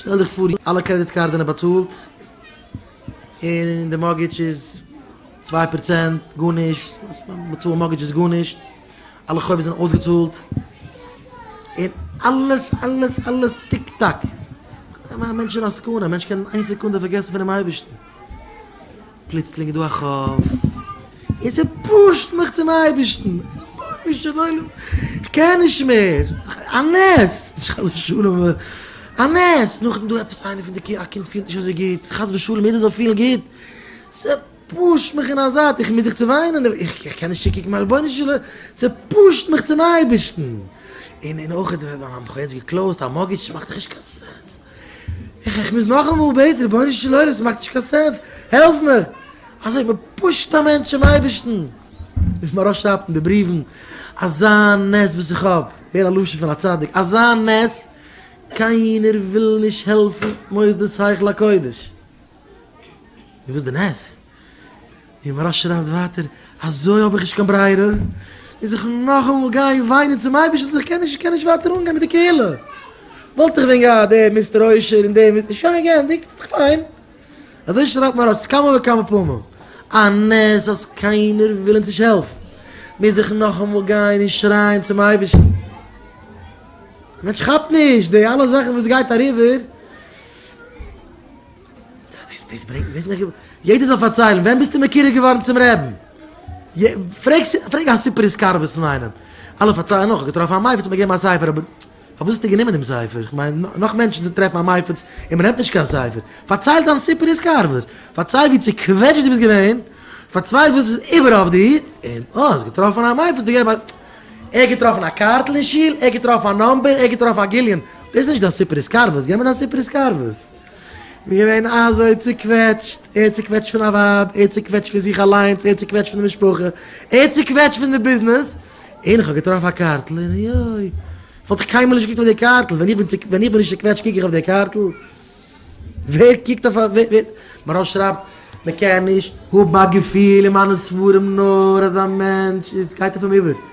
שטעל דיך פאר אלע קרעדיט קארדס זענען באצאלט און די מארטגעדזש איז צוויי פראצענט, גארנישט, באצאלן מארטגעדזש איז גארנישט, אלע חובות זענען אויסגעצאלט און אלעס אלעס אלעס טיק טאק, א מענטש אין א סכנה, א מענטש קען איין סעקונדע פארגעסן פונעם אייבערשטן. פלוצלינג איז דא א חוב, און ס'פושט מיך צום אייבערשטן, רבונו של עולם, כ'קען נישט מער, א נס, נישט חס ושלום אבער א נס, נאכדעם איז דא עפעס איינער פון די קינדער, א קינד פילט נישט אזוי גוט, חס ושלום יעדער זאל פילן גוט, ס'פושט מיך אין א זייט, איך מוז זיך צעוויינען, איך קען נישט צוקוקן מיין רבונו של עולם, ס'פושט מיך צום אייבערשטן, און אויך האט מיין בחור יעצט געקלאוזט א מארטגעדזש, ס'מאכט דאך נישט קיין סענס. איך איך מוז נאכאמאל בעטן, רבונו של עולם עס מאכט נישט קיין סענס, העלף מיר! אזוי מען פושט א מענטש צום אייבערשטן, ביז מען ארויסשרייבט אין די בריוון, אזא נס וואס איך האב, הער א לשון פון א צדיק, אזא נס, קיינער וויל נישט העלפן מוסדות היכל הקודש, און וואס די נס? ווי מהרש שרייבט ווייטער, אזוי האב איך נישט קיין ברירה, מוז איך נאכאמאל גיין וויינען צום אייבערשטן אז איך קען נישט, איך קען נישט ווייטער אנגיין מיט די קהילה, וואלט איך ווען געהאט דעם מיסטער עושר און דעם מיסטער שוין געענדיגט, איז דאך פיין. אזוי שרייבט מהרש ס כמה וכמה פעמים, א נס אז קיינער וויל אונז נישט העלפן, מוז איך נאכאמאל גיין און שרייען צום אייבערשטן. דער מענטש כאפט נישט די אלע זאכן וואס גייט אריבער. דאס ברענגט מיר וויסן איך געוואלט יעדער זאל פארציילן ווען ביסטו מקורב געווארן צום רעבן פרעג פרעג א סופר התקרבות פון איינעם אלע פארציילן נאך געטראפן א מייפעץ מיר געבן א ספר אבער פארוואס האסטו גענומען דעם ספר איך מיין נאך מענטשן צו טרעפן א מייפעץ און מען נעמט נישט קיין ספר פארצייל דיין סופר התקרבות פארצייל ווי צוקוועטשט דו ביסט געווען פארצווייל וואס איז איבער אויף דיר און אה האסט געטראפן א מייפעץ דו געב א ער האט געטראפן א קארטל אין שול ער האט געטראפן א נאמבער ער האט געטראפן א גיליון דאס איז נישט דיין סופר התקרבות געב מיר דיין סופר התקרבות. איז געווען אזוי צוקוועטשט, ער צוקוועטשט פון א ווייב, ער צוקוועטשט פון זיך אליינס, ער צוקוועטשט פון די משפחה, ער צוקוועטשט פון די ביזנעס, און איך האב געטראפן א קארטל, און אוי אוי, וואלט איך קיינמאל נישט געקוקט אויף די קארטל, ווען איך בין צו, ווען איך בין נישט צוקוועטשט קוק איך אויף די קארטל? ווער קוקט אויף א, ווער, ווער, מהרא שרייבט, מען קען נישט האבן א געפיל אין מיינע ספרים נאר אז א מענטש איז, גייט אויף אים איבער.